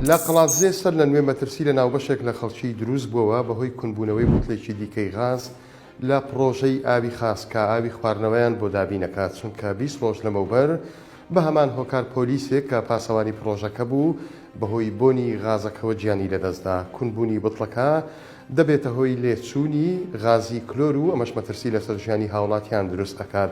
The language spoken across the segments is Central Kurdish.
لە قەڵادزێ سەر لە نوێ مەترسی لە ناوبەشێک لە خەڵکی دروست بووەوە بەهۆی کونبوونەوەی بوتلێکی دیکەی غاز لە پڕۆژەی ئاوی خاس کە ئاوی خواردنەوەیان بۆ دابینەکات چونکە بیست ڕۆژ لەمەوبەر بە هەمان هۆکار پۆلیسێک کە پاسەوانی پڕۆژەکە بوو بەهۆی بۆنی غازەکەوە گیانی لەدەستدا کونبوونی بتڵەکە دەبێتە هۆی لێچوونی غازی کلۆر و ئەمەش مەترسی لەسەر ژیانی هاوڵاتیان دروست ئەکات.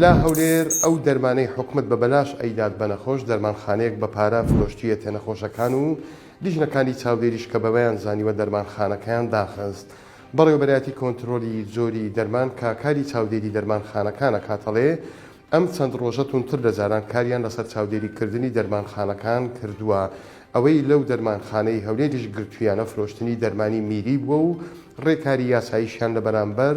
لە هەولێر ئەو دەرمانەی حکومەت بە بەلاش ئەیدات بە نەخۆش، دەرمانخانەیەک بە پارە فرۆشتویەتێ نەخۆشەکان و لیژنەکانی چاودێریش کە بەوەیان زانیوە دەرمانخانەکەیان داخست. بەڕێوەبەرایەتی کۆنترۆلی جۆری دەرمان کە کاری چاودێری دەرمانخانەکان ئەکات ئەڵێ، ئەم چەند ڕۆژە توندتر لە جاران کاریان لەسەر چاودێری کردنی دەرمانخانەکان کردووە. ئەوەی لەو دەرمانخانەی هەولێریش گرتویانە فرۆشتنی دەرمانی میری بووە و ڕێکاری یاساییشیان لە بەرامبەر